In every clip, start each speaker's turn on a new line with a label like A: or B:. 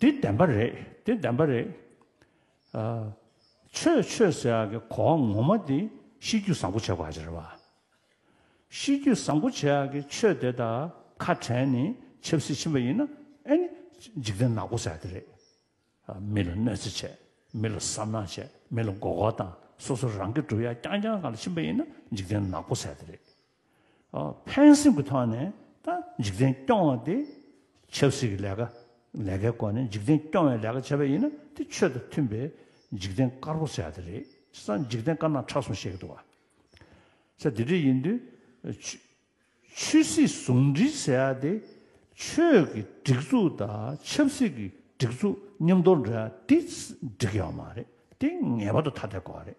A: འདི་བདེན་པ་རེད་འདི་བདེན་པ་རེད། ཆོས་ཆོས་ཟེར་ཡག་གི་གོ་བ་ངོ་མ་འདི་གཤིས་རྒྱུད་བཟང་པོ་བྱེད་དགོས་ཀྱི་རེད་བ། གཤིས་རྒྱུད་བཟང་པོ་བྱེད་ཡག་གི་ཆོས་དེ་དག་ཁ་བྲལ་ནས་ཆབ་སྲིད་ཕྱིན་པ་ཡིན་ན་ཨེ་ནི་འཇིག་རྟེན་ནག་པོ་ཟེར་ཡག་གི་རེད། མི་ལ་གནོད་འཚེ་བྱས་མི་ལ་བསམ་གནག་བྱས་མི་ལ་མགོ་སྐོར་དང་སོ་སོ་རང་གི་གྲུབ་ཡ་རྐྱང་རྐྱང་གང་ལ་ཕྱིན་པ་ཡིན་ན་འཇིག་རྟེན་ནག་པོ་ཟེར་ཡག་གི་རེད། ཕན་སེམས་ཀྱི་ཐོག་ནས་ད་འཇིག་རྟེན་སྐྱོང་བ་དེ་ཆབ་སྲིད་ཀྱི་ལས་ཀ་ལས་ཀའི་སྐོར་ནས་འཇིག་རྟེན་སྐྱོང་བའི་ལས་ཀ་བྱས་པ་ཡིན་ན་དེ་ཆོས་དང་མཐུན་པའི་འཇིག་རྟེན་དཀར་པོ་བྱས་ཏེ་རེད་ཅེས་ས་འཇིག་རྟེན་དཀར་ནག་ཁྲ་གསུམ་བཤད་ཀྱི་འདུག་ས་དེ་འདྲ་ཡིན་དུས་ཆོས་སྲིད་ཟུང་འབྲེལ་བྱས་ཏེ་ཆོས་ཀྱི་སྒྲིག་འཛུགས་དང་ཆབ་སྲིད་ཀྱི་སྒྲིག་འཛུགས་མཉམ་དུ་འདྲེས་ཡོང་མ་རེད་དེ་ངེས་པར་དུ་ཐ་དད་དགོས་པ་རེད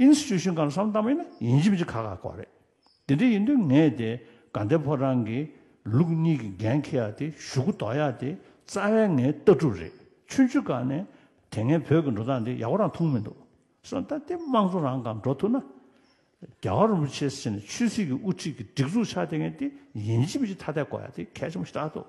A: Institution གང་བསམ་གཏམ་ཡིན་ན་ཡིན་གཅིག་མཆི་ཁ་ཁ་གོ་རེད། དེ་འདྲ་ཡིན་དུས་ངས་དེ་དགའ་ལྡན་ཕོ་བྲང་གི་ལུགས་གཉིས་ཀྱི་འགན་འཁྱེར་ཡག་དེ་ཞུ་གུ་འདོགས་ཡག་དེ་རྩ་བའི་ངའི་ལྟ་གྲུབ་རེད་ཆུང་ཆུང་སྐབས་ནས་དེ་ངས་བོད་ཀྱི་འགྲོ་སྟངས་འདི་ཡག་པོ་རང་མཐོང་མི་འདུག་སོང་ད་དེ་དམངས་གཙོ་རང་གང་འགྲོ་ཐུབ་ན་རྒྱ་གར་རིན་པོ་ཆེ་ཟེར་ནས་ཆོས་སྲིད་ཀྱི་དབུ་ཁྲིད་ཀྱི་སྒྲིག་འཛུགས་ཆགས་དེ་ངས་དེ་ཡིན་གཅིག་མཆི་ཐ་དད་གོ་ཡག་དེ་གལ་ཆེན་པོ་ཞིག་རྟག་འདུག།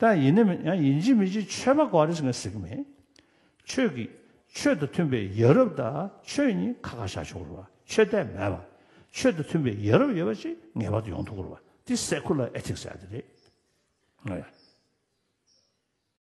A: དང་ཡིན་ནི་མིན་ཡང་ཡིན་གཅིག་མིན་གཅིག་ཆོས་པ་འགའ་རེས་ངས་ཟིག་མེད། ཁྱོད་ཀྱིས་ཆོས་དང་མཐུན་པའི་ཡ་རབས་དང་ཆོས་གཉིས་ཁ་ཁ་བཞག་ཆོག་རུ་བ་ཆོས་དད་མེད་པ། ཆོས་དང་མཐུན་པའི་ཡ་རབས་ཡོད་པ་ཅིག་ངེས་པར་དུ་ཡོང་ཐུག་རུ་བ་འདི་སེ་ཁུ་ལ་ཨེ་ཐིག་ཟེར་ཡ་དེ་རེད།